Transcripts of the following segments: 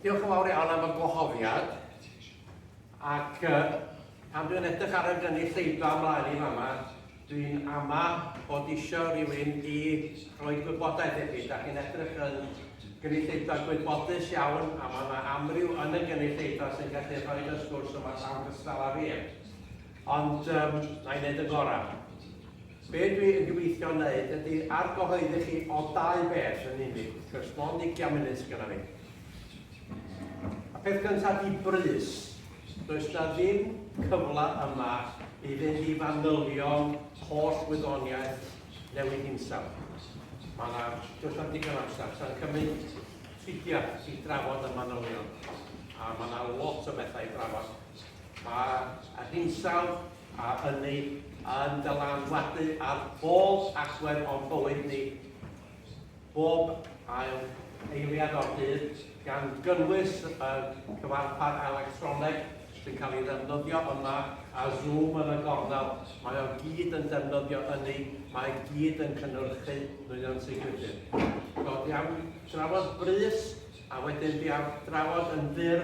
Diolch yn fawr iawn am y gwahoddiad. Ac uh, pan dwi'n edrych ar y gynulleidfa ymlaen i fama, dwi'n ama bod eisiau rhywun i roi gwybodaeth i chi. Da chi'n edrych yn gynulleidfa gwybodus iawn, a mae yna amryw yn y gynulleidfa sy'n gallu rhoi y sgwrs yma llawn gystal â fi. Ond yym, na i wneud yn gorau. Be dwi yn gobeithio wneud ydi argyhoeddi chi o dau beth yn unig, wrth gwrs, mond ugian munud sydd genna fi. A peth gyntaf di brys. Does na ddim cyfle yma i fynd i fanylion holl wyddoniaeth newid hinsawdd. Mae yna, does na digon amser, sa'n cymryd tridiau i drafod y manylion. A mae yna lot o bethau i drafod. Mae yr hinsawdd a ynni yn dylanwadu ar bob agwedd o'n bywyd ni, bob ail eiliad o'r dydd, gan gynnwys y cyfarpar electroneg sy'n cael ei ddefnyddio yma a Zoom yn y gornel, mae o gyd yn defnyddio ynni, mae i gyd yn cynhyrchu nwyon tŷ gwydyr. So, iawn, drafod brys. A wedyn dwi am drafod yn fyr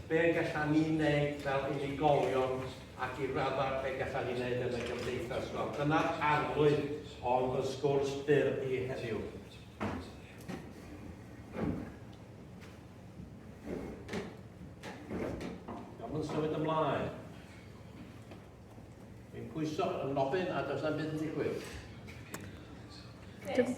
be gallan ni wneud fel unigolion ac i raddau be gallan ni wneud yn y gymdeithas wel dyna'r arlwy o'n fy sgwrs byr i heddiw. Gawn ni symud ymlaen. Fi'n pwyso yn nofyn a does na'm byd yn digwydd. Chris.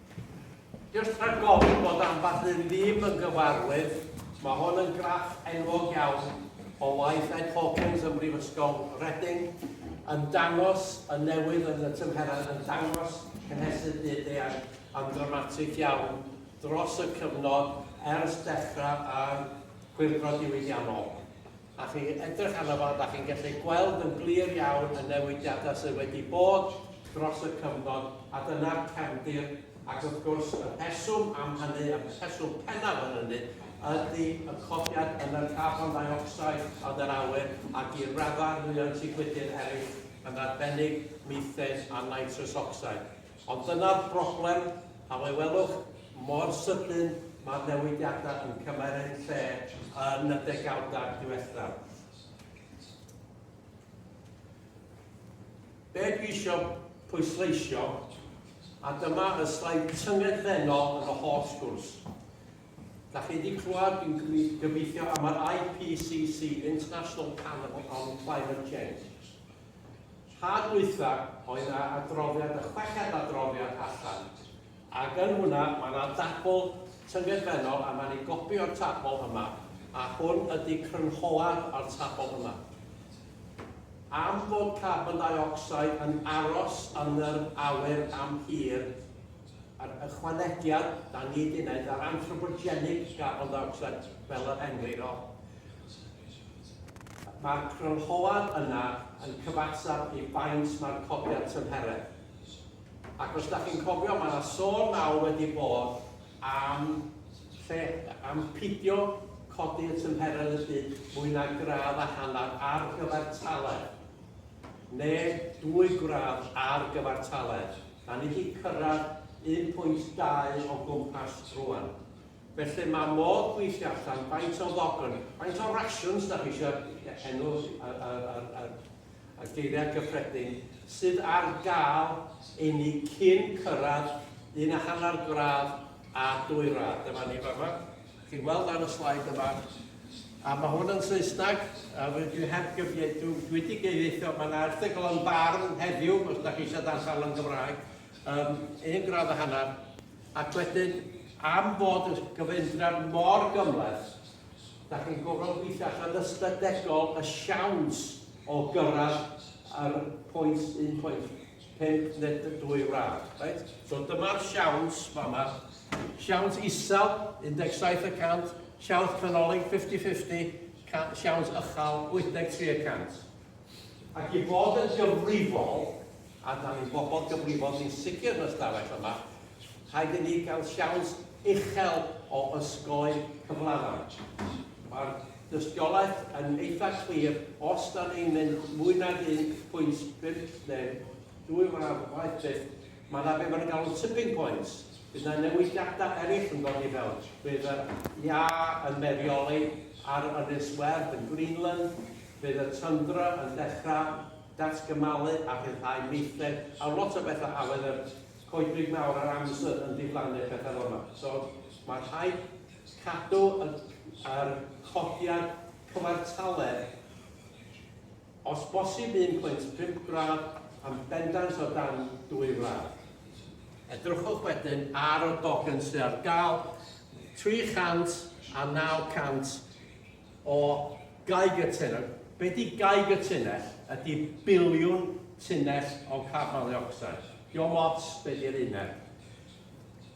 Jyst rhag gofyn bod ambell un ddim yn gyfarwydd, mae hwn yn graff enwog iawn o waith Ed Hawkins ym Mhrifysgol Reading, yn dangos y newid yn y tymheredd, yn dangos cynhesu byd-eang yn ddramatig iawn dros y cyfnod ers dechrau ar Chwyldro Diwydiannol. a chi'n edrych arno fo, da chi'n gallu gweld yn glir iawn y newidiadau sydd wedi bod dros y cyfnod, a dyna'r cefndir, ac wrth gwrs y rheswm am hynny, y rheswm pennaf yn hynny, ydy y codiad yn y carbon dioxide yn yr awyr, ac i raddau mwy ansicrwydir eraill, yn arbennig methane a nitrous oxide. Ond dyna'r broblem, pan fe welwch mor sydyn mae'r newidiadau yn cymryd eu lle yn y degawdau diwethaf. Be dwi eisiau pwysleisio, a dyma y slaid tyngedfennol yn y holl sgwrs. Da chi wedi clywed, dwi'n gobeithio, am yr IPCC, International Panel on Climate Change. Rhad ddwytha oedd yna adroddiad y chweched adroddiad allan ac yn hwnna mae yna dabl tyngedfennol a mae'n ei gopi o'r tabl yma a hwn ydy crynhoad o'r tabl yma. Am fod carbon dioxide yn aros yn yr awyr am hir, yr ychwanegiad da ni wedi wneud ar anthropogenic garbon dioxide fel yr englyn o, Mae'r crynhoad yna yn cyfateb i faint mae'r codiad tymheredd. Ac os da chi'n cofio, mae yna sôn mawr wedi bod am lle, am pidio codi y tymheredd y byd mwy na gradd a hanner ar gyfer taled, neu dwy gradd ar gyfer taled. Da ni wedi cyrraedd 1.2 o gwmpas rwan. Felly mae modd gweithio allan faint o ddogon, faint o rasiwns da chi eisiau, enw y geiriau gyffredin, sydd ar gael i ni cyn cyrraedd un a hanner gradd a dwy radd. Dyma ni fama, chi'n gweld ar y slaid yma, a mae hwn yn Saesneg, a dwi heb gyfieithu, dwi wedi gyfieithu, mae yna erthygl yn barn heddiw, os da chi eisiau darllen yn Gymraeg, um, un gradd a hanner, Ac wedyn, am fod y gyfundrefn mor gymhleth, dach chi'n gorfod gweithio allan ystadegol y siawns o gyrraedd yr 1.5 net y dwy wlad. Right? So dyma'r siawns fama. Siawns isel, 17 y cant, siawns canolig 50-50, siawns ychal 83 y cant. Ac i fod yn gyfrifol, a da ni'n bobl gyfrifol sy'n sicr yn y stafell yma, rhaid i ni gael siawns uchel o ysgoi cyflafan. Mae'r dystiolaeth yn eitha clir, os da ni'n mynd mwy nag 1.5 neu dwy waith byth, mae yna beth mae'n galw'n tipping points, bydd yna newidiadau eraill yn dod i fewn. Bydd yr iâ yn merioli ar Ynys Werdd yn Greenland, Bydd y tyndra yn dechrau datgymalu a rhyddhau meithrin a lot o bethau a fydd yr coedwig mawr a'r amser yn diflannu a pethau fel yma. So mae rhaid cadw y yr codiad cyfartaledd os bosib 1.5 gradd yn bendant o dan 2 gradd. Edrychwch wedyn ar y dogen sydd ar gael, 300 a 900 o Geiger Tunnel. Be di Geiger Tunnel? Ydy biliwn tunnell o carbon dioxide. Diolch lot be di'r uned.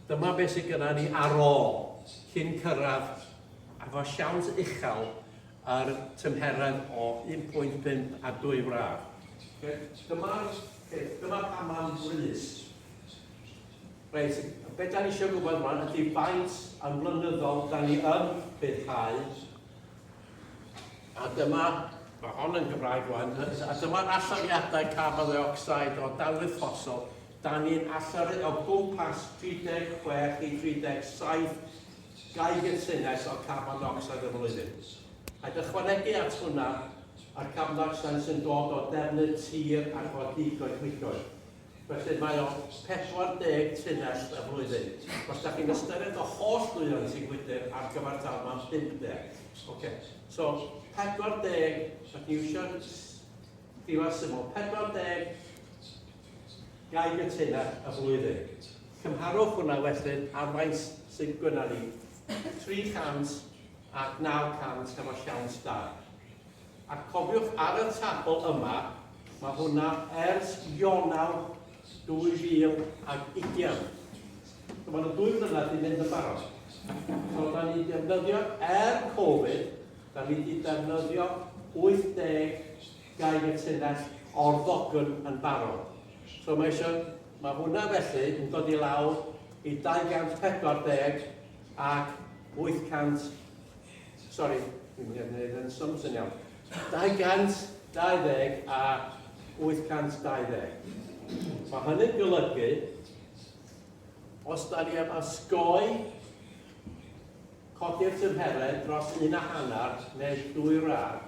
Dyma beth sydd gyda ni ar ôl cyn cyrraedd efo siawns uchel yr tymheredd o 1.5 a 2 wraf. Dyma'r peth, dyma pan mae'n brys. Reit, be da ni eisiau gwybod rwan ydy faint yn flynyddol da ni yn rhyddhau. A dyma, mae hon yn Gymraeg rwan, a dyma'r allyriadau carbon dioxide o danwydd ffosol. Da ni'n allyru o gwmpas 36 i 37 gigatunnes o carbon dioxide y flwyddyn. Rhaid ychwanegu at hwnna y carbon dioxide sy'n dod o defnydd tir ac o digoedd gwygoedd. Felly mae o 40 tunnell y flwyddyn. Os da chi'n ystyried y holl dduon sy'n gwydr ar gyfer tal mae'n 50. Ok, so 40, da chi'n iwsio diwar syml, 40 gaib y tunnell y flwyddyn. Cymharwch hwnna wedyn ar faint sy'n gynnar ni 300 ac 900 hefo siawns da. Ac cofiwch ar y tabl yma, mae hwnna ers Ionawr 2020. So mae nhw dwy flynedd di mynd yn barod. So da ni defnyddio er Covid, da ni di defnyddio 80 gair y tunnell o'r ddogn yn barod. So mae eisiau, mae hwnna felly yn dod i lawr i 240 ac 800 Sori, dwi'n mynd i wneud yn sums yn iawn. 220 a 820. Mae hynny'n golygu, os da ni am ysgoi codi'r tymheredd dros un a hanner neu dwy rar,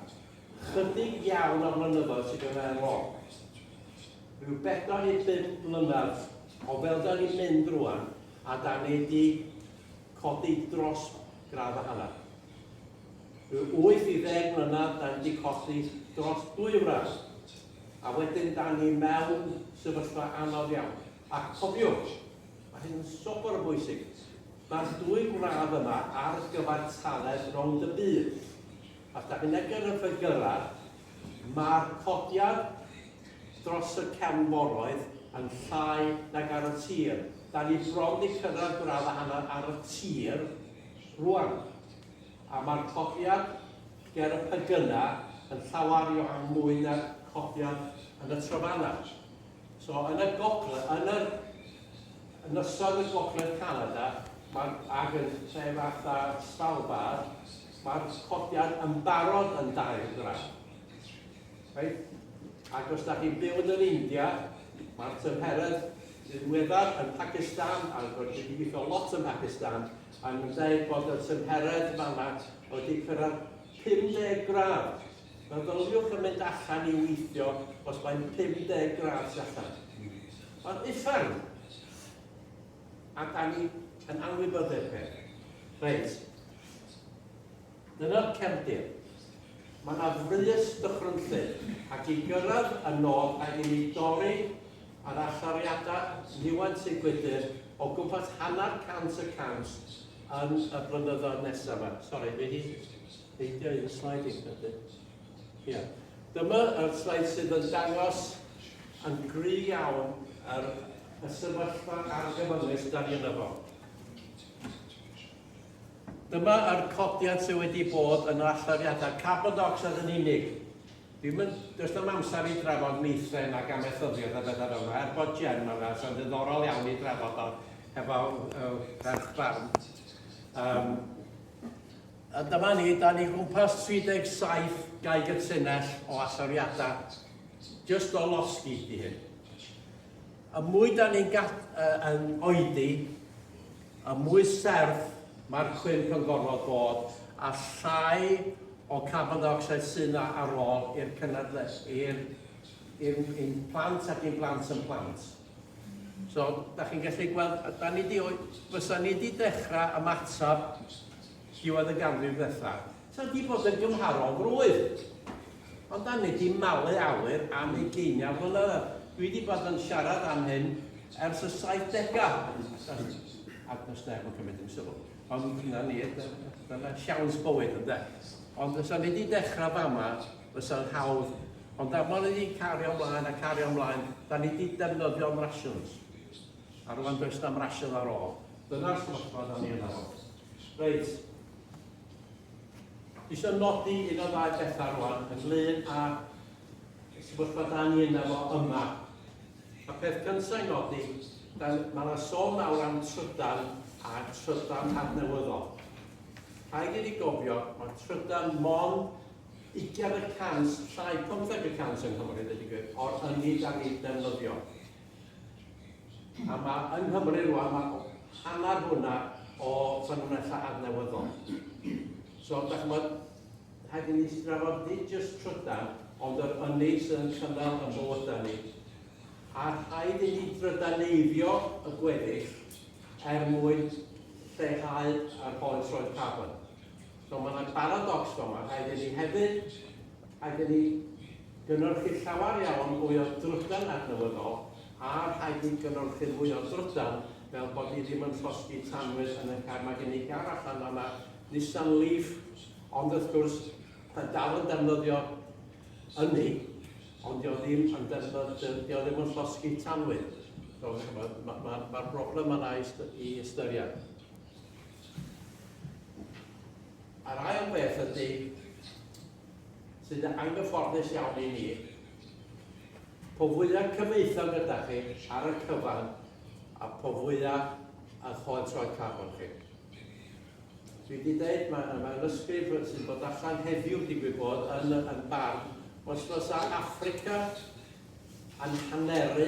chydig iawn o flynyddoedd sydd yn ail ôl. Rhyw bedo i bum mlynedd o fel da ni'n mynd rwan, a da ni wedi codi dros gradd a hanner. Rhyw wyth i ddeg mlynedd dan di colli dros dwy wraig, a wedyn dan ni mewn sefyllfa anodd iawn. A cofiwch, mae hyn yn swper o bwysig, mae'r dwy wraig yma ar gyfartaledd rownd y byd. Os da chi'n edrych ar y ffegyrau, Mae'r codiad dros y cefnforoedd yn llai nag ar y tir. Da ni bron 'di cyrraedd gradd a hanner ar y tir rŵan, a mae'r codiad ger y pegynau yn llawer iawn mwy na'r codiad yn y trofannau. So yn y gogle-, yn yr ynysoedd yn gogledd Canada, mae'r, ac yn lle fatha Svalbard, Mae'r codiad yn barod yn dair gradd. Right? Ac os da chi'n byw yn yr India, mae'r tymheredd sydd weddar yn Pakistan, a rydw i wedi gweithio lot yn Pakistan, a yn dweud bod y tymheredd fanna wedi cyrraedd 50 gradd. Meddyliwch yn mynd allan i weithio os mae'n 50 gradd allan. Mae'n uffern. A da ni yn anwybyddu'r peth. Reit. Dyna'r cefndir. Mae yna frys dychrynllyd, ac i gyrraedd y nod rhaid i ni dorri yr allyriadau niwed sy'n gwydr o gwmpas hanner cant y cant yn y blynyddoedd nesaf yma. Sori, dwi wedi peidio un slaid i, felly. Ia. Dyma yr sleid sydd yn dangos yn gry iawn yr y sefyllfa argyfyngus dan ni yno fo. Dyma yr codiad sydd wedi bod yn allyriadau carbon dioxide yn unig. Ddim yn, does dim amser i drafod meithrin ac amaethyddiaeth a bethau fel yna, er bod Jen yna, sy'n ddiddorol iawn i drafod o hefo uh, ferch barn. Um, A dyma ni, da ni gwmpas 37 gaig y tunnell o alloriadau, jyst o losgi di hyn. Y mwy da ni'n yn oedi, y mwy serth mae'r cwymp yn gorfod bod a llai o carbon dioxide sy'n ar ôl i'r cynadledd, i'r plant ac i'n plant yn plant. So, da chi'n gallu gweld, a da ni di, fysa ni di dechrau ymateb diwedd y ganrif ddethau. Sa di bod yn gymharol frwydd. Ond da ni di malu awyr am ei geiniau flynyddoedd. Dwi wedi bod yn siarad am hyn ers y 70au. Ac does neb yn cymryd yn sylw. Ond dyna ni, dyna siawns bywyd ynde. Ond fysa ni wedi dechrau fama fysa'n hawdd, ond am wn i cario mlaen a cario mlaen, da ni di defnyddio'n rations, a rwan does na'm ration ar ôl. Dyna'r sefyllfa da ni yna fo. Reit. Eisiau nodi un o ddau bethau rwan, ynglyn â sefyllfa da ni yna fo yma. Y peth cyntaf i nodi, mae yna sôn nawr am trydan a trydan adnewyddol. Rhaid i ni gofio, mae trydan mon Ugain y cant, llai pymtheg y cant yng Nghymru, deud y gwir, o'r hynny da ni'n defnyddio. A mae yng Nghymru rwan, mae hanner hwnna o ffynonellau adnewyddol. So, da chymod, rhaid i ni strafod nid jyst trydan, ond yr ynni sydd yn cynnal yn bod da ni. A rhaid i ni drydaneiddio y gweddill er mwyn lleihau yr holl roedd carbon. So mae yna baradocs fama, rhaid i ni hefyd, rhaid i ni gynhyrchu llawer iawn mwy o drydan adnewyddol a rhaid ni gynhyrchu mwy o drydan fel bod ni ddim yn llosgi tanwydd yn y car. Mae gen i gar allan fan'na, Nissan Leaf, ond wrth gwrs, mae dal yn defnyddio ynni, ond dio ddim yn defnyddio, dio ddim yn llosgi tanwydd. So, mae'r ma, ma, ma broblem yna i ystyried. A'r ail beth ydy, sydd yn anghyfforddus iawn i ni, po fwyaf cyfeithion gyda chi ar y cyfan, a po fwyaf a choed troi carbon chi. Dwi wedi dweud, mae yna mewn ysgrif sy'n bod allan heddiw, digwydd bod, yn, yn barn, os fysa Africa yn haneru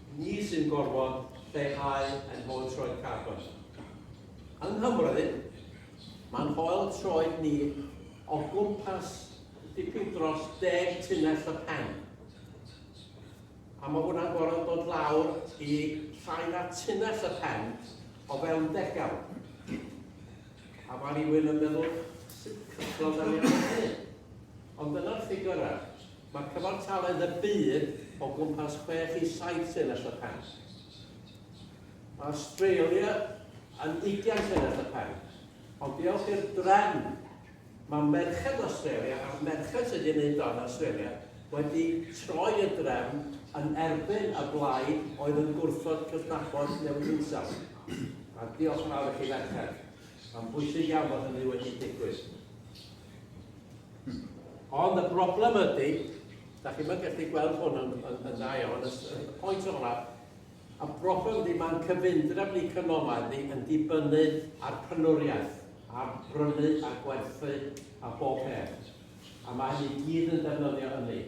Ni sy'n gorfod lleihau ein hoel troed carbon. Yng Nghymru, mae'n hoel troed ni o gwmpas dipyn dros deg tunnell y pen. A mae hwnna'n gorfod dod lawr i llai na tunnell y pen o fewn degawd. A mae rhywun yn meddwl, sut cyffro da ni ar hynny? Ond dyna'r ffigurau. Mae cyfartaledd y byd o gwmpas chwech i saith llinell y pen. Mae Awstralia yn ugian llinell y pen. Ond diolch i'r drefn, mae merched Awstralia a'r merched sydd wedi wneud o yn Awstralia wedi troi y drefn yn erbyn y blaid oedd yn gwrthod cydnabod newid hinsawdd. A diolch yn fawr i chi ferched. Mae'n bwysig iawn bod hynny wedi digwydd. Ond y broblem ydy, da chi'n mynd gallu gweld hwn yn, yn, yn dda iawn, y pwynt o'na, y broblem ydy mae'n cyfundref ni cynomau ni yn dibynnu ar penwriaeth, ar brynu a gwerthu a bob peth. A mae hynny gyd yn defnyddio hynny.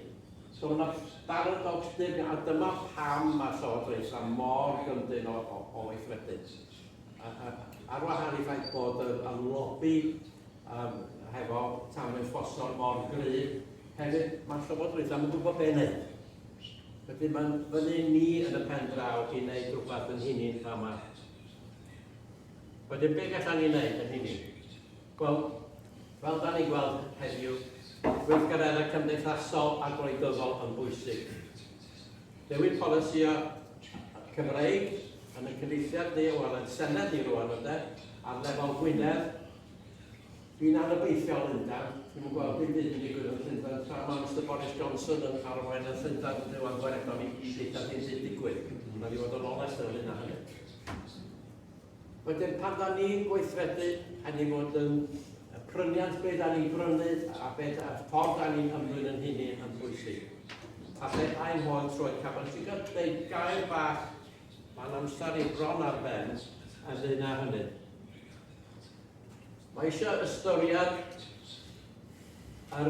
So yna baradox dim, a dyma pam mae llywodraethau mor gyndyn o, o, o weithredu. Ar wahan i ffaith bod y, y lobby Yym, hefo tanwydd fosol mor gryf, hefyd mae'r Llywodraeth ddim yn gwybod be' wneud. Felly mae'n fyny ni yn y pen draw i wneud rhywbeth yn hynny yn fama. Wedyn be' gallan ni wneud yn hynny? Wel, fel da ni'n gweld heddiw, gweithgareddau cymdeithasol a gwleidyddol yn bwysig. Newid polisio Cymreig yn y cyfeithiad ni o ran Senedd ni rwan ynde, ar lefel Gwynedd, Dwi'n anobeithiol o Lundan. Dwi'm yn gweld dim byd yn digwydd yn Llundan tra ma' Mister Boris Johnson yn arwain yn Llundan yn Rhyw Angweredol i i ddeitha dim byd digwydd. Rhaid i fod yn onest yn ynglyn â hynny. Wedyn pan da ni'n gweithredu, rhaid i fod yn y pryniant be da ni'n brynu a be da, ffordd da ni'n ymddwyn yn hynny yn bwysig. A fe ein hon troed caban. Ti'n cael dweud gair bach, mae'n amser i bron ar ben, yn ddyn â hynny. Mae eisiau ystyried yr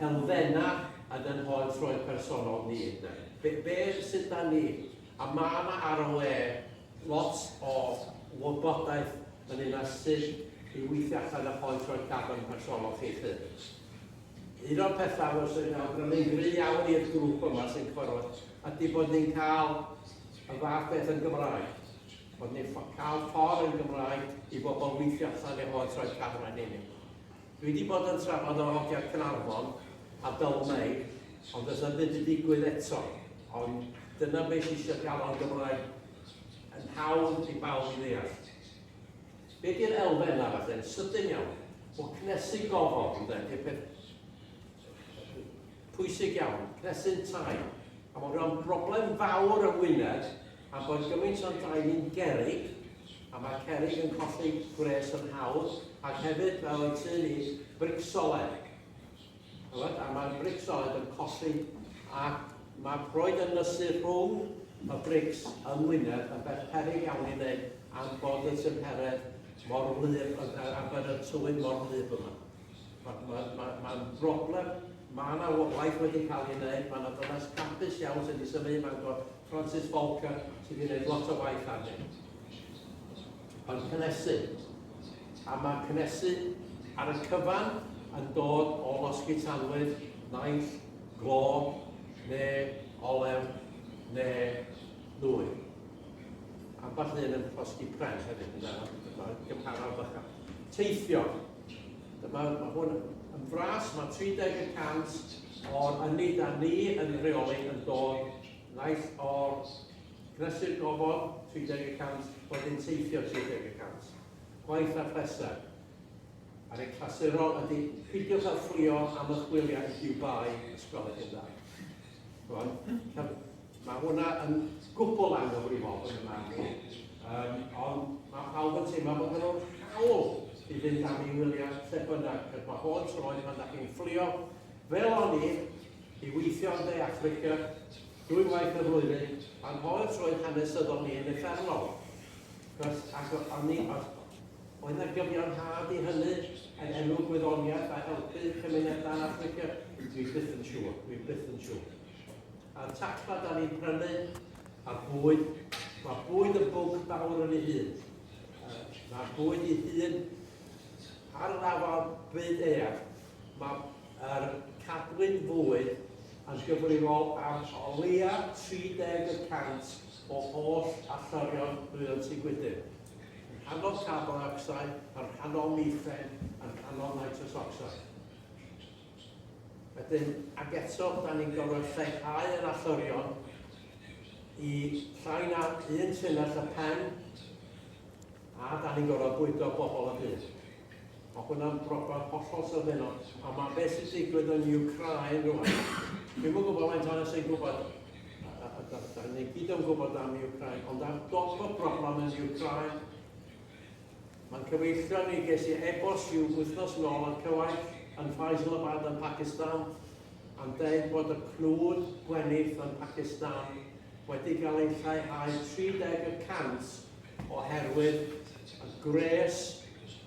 elfennau yn yn hoel troed personol ni. Be, be sydd da ni? A mae yna ar y le lot o wybodaeth yn un ar sut i weithio allan y hoel troed carbon personol chi chi. Un o'r pethau sy'n awgrymu'n gry iawn i'r grŵp yma sy'n cyfarfod ydy bod ni'n cael y fath beth yn Gymraeg. Ond ni'n cael ffordd yn Gymraeg i bobl weithio allan eu hoes rhoi camera yn unig. Dwi wedi bod yn trafod o hogiau Cynarfon a Dylmei, ond does yna ddim yn digwydd eto. Ond dyna beth eisiau gael o'n Gymraeg yn hawdd i bawb i ddeall. Be di'r elfen arall yn sydyn iawn? O cnesu gofod, ynde, di'r peth pwysig iawn, cnesu'n tai. A mae rhan broblem fawr yng Ngwynedd Ac oedd gymaint o'n dau ni'n gerrig, a mae cerrig yn colli gwres yn hawdd, ac hefyd fel oedd tŷ ni, bricsoled. Chymod, a mae'r bricsoled yn colli, a mae proed yn nysu rhwng y brics yng Ngwynedd yn beth peryg iawn i wneud am bod y tymheredd mor wlyb, a bod y tywydd mor wlyb yma. Mae'n ma, ma, ma broblem, mae yna waith wedi cael ei wneud, mae yna ddynas capus iawn sydd wedi symud i Fangor, Francis Bolka sydd wedi gwneud lot o waith ar hyn. Yn cynnesu. A mae cynnesu ar y cyfan yn dod o losgi tanwydd, naill, glo, neu olew, neu ddwy. Ambell un yn losgi pren hefyd, mae'n gymharol bychan. Teithio. Dyma, mae hwn yn fras, mae 30 y cant o'r ynni da ni yn reoli yn dod Nice or Prysur gofod 30 y cant, wedyn teithio 30 y cant. Gwaith ar bleser. Ar ei clasurol ydy pidiwch â fflio am y chwiliau i Dubai os gwelwch yn dda. Rwan, mae hwnna yn gwbl anghyfrifol yn y marn i, um, ond mae pawb yn teimlo bod nhw hawl i fynd am ei wyliau lle bynnag, cydma holl troed pan da chi'n fflio. Fel o'n i, I weithio yn De Affrica dwy waith y flwyddyn, a'n holl troed hanesyddol ni yn uffernol. Cos, ac o- o'n i, o- oedd 'na gyfiawnhad i hynny yn enw gwyddoniaeth a helpu cymunedau yn Affrica? Dwi byth yn siŵr, dwi byth yn siŵr. A'r tacfa 'dan ni'n prynu, a bwyd, mae bwyd yn bwnc fawr yn ei hun. Yy, Mae bwyd ei hun ar yr afal byd eang. Mae'r cadwyn fwyd yn gyfrifol am o leia 30 y cant o holl allorion nwyon Tŷ Gwydyr, yn rhannol carbon ocsid, yn rhannol mîthen, yn rhannol nitrous ocsid. Wedyn, ac eto, da ni'n gorfod lleihau yr allorion i llai na un tunnell y pen, a da ni'n gorfod bwydo bobl y byd. Mae hwnna'n broblem hollol sylfaenol. A mae beth sy'n digwydd yn Ukraine rwan, dwi'n yn gwybod faint ohono sy'n gwybod, a, a, a, a ni gyd yn gwybod am Ukraine, ond ar dop y broblem yn Ukraine, mae'n cyfeillio ni ges i e-bost i'w wythnos yn ôl yn cyfaill yn Faisalabad yn Pakistan, a'n dweud bod y cnwd gwenith yn Pakistan wedi cael ei lleihau 30 y cant oherwydd y gwres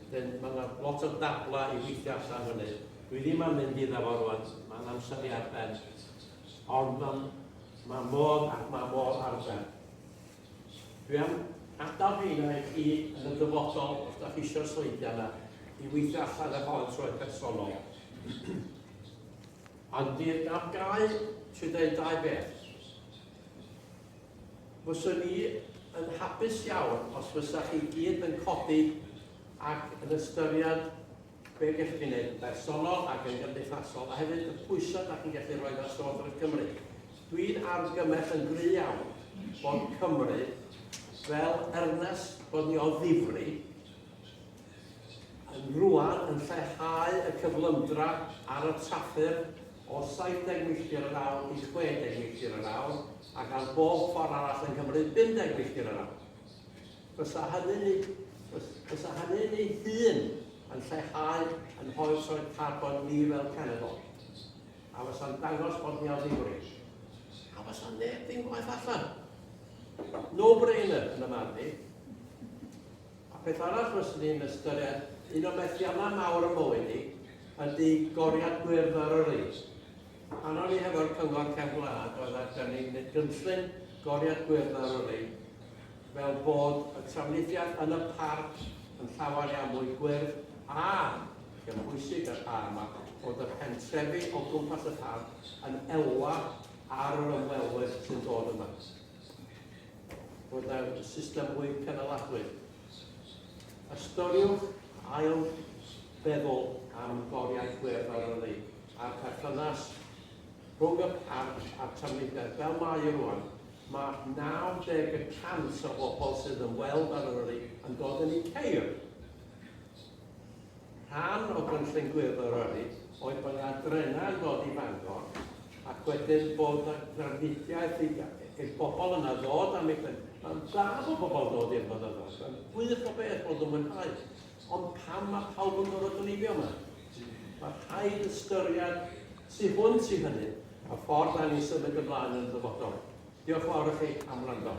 Wedyn, mae yna lot o dablau i weithio allan fyny. Dwi ddim am mynd iddo fo rwan, mae'n amser i ar ben. Ond mae, mae modd ac mae modd ar ben. Dwi am adael heina i chi yn y dyfodol, os da chi eisiau sleidiau yna, i weithio allan efo yn troed personol. Ond di'r gaf gau, trwy dweud dau beth. Fyswn i yn hapus iawn os fysa chi gyd yn codi ac yn ystyried be gennych chi'n neud yn bersonol ac yn gymdeithasol a hefyd y pwysa da chi'n gallu rhoid ar Llywodraeth Cymru. Dwi'n argymell yn gry iawn bod Cymru fel ernest bod ni o ddifri, yn rwan yn lleihau y cyflymdra ar y trafferth o 70 milltir yr awr i 60 milltir yr awr, ac ar bob ffordd arall yng Nghymru 50 milltir yr awr. Bysa hynny'n ei, bysa hynny'n ei hun yn lleihau yn hoel troed carbon ni fel cenedl, a fysa'n dangos bod ni o ddifri, a fysa neb ddim gwaith allan. No-brainer yn y marn i. A peth arall fyswn i'n ystyried, un o methiannau mawr y mywyd i, ydy goriad gwyrdd ar yr is. Pan o'n i hefo'r Cyngor Cefn Gwlad oedd a da ni'n neud gynllun goriad gwyrdd ar yr is, fel bod y trafnidiaeth yn y parc yn llawer iawn mwy gwyrdd a, lle mae'n bwysig y rhan yma, bod y pentrefi o gwmpas y parc yn elwa ar yr ymwelwyr sy'n dod yma. Bod nawr y system fwy cynaladwy. Ystyriwch ail feddwl am goriau gwyrdd ar ynni a'r perthynas rhwng y parc a'r trafnidiaeth fel mae e rwan. Mae 90 y cant o bobl sydd yn weld ar ynni yn dod yn eu ceir. Rhan o gynllun Gwyddor yr Ynys oedd bod yna drenau yn dod i Fangor ac wedyn bod yna drafnidiaeth i i'r bobl yna ddod am eu pen. Mae'n dda bod pobl yn dod i'r mynyddoedd, mae'n gwych o beth bod yn mwynhau, ond pam mae pawb yn gorfod dreifio yma? Mae rhaid ystyried tu hwnt i hynny a ffordd da ni'n symud ymlaen yn y dyfodol. Diolch yn fawr i chi am wrando.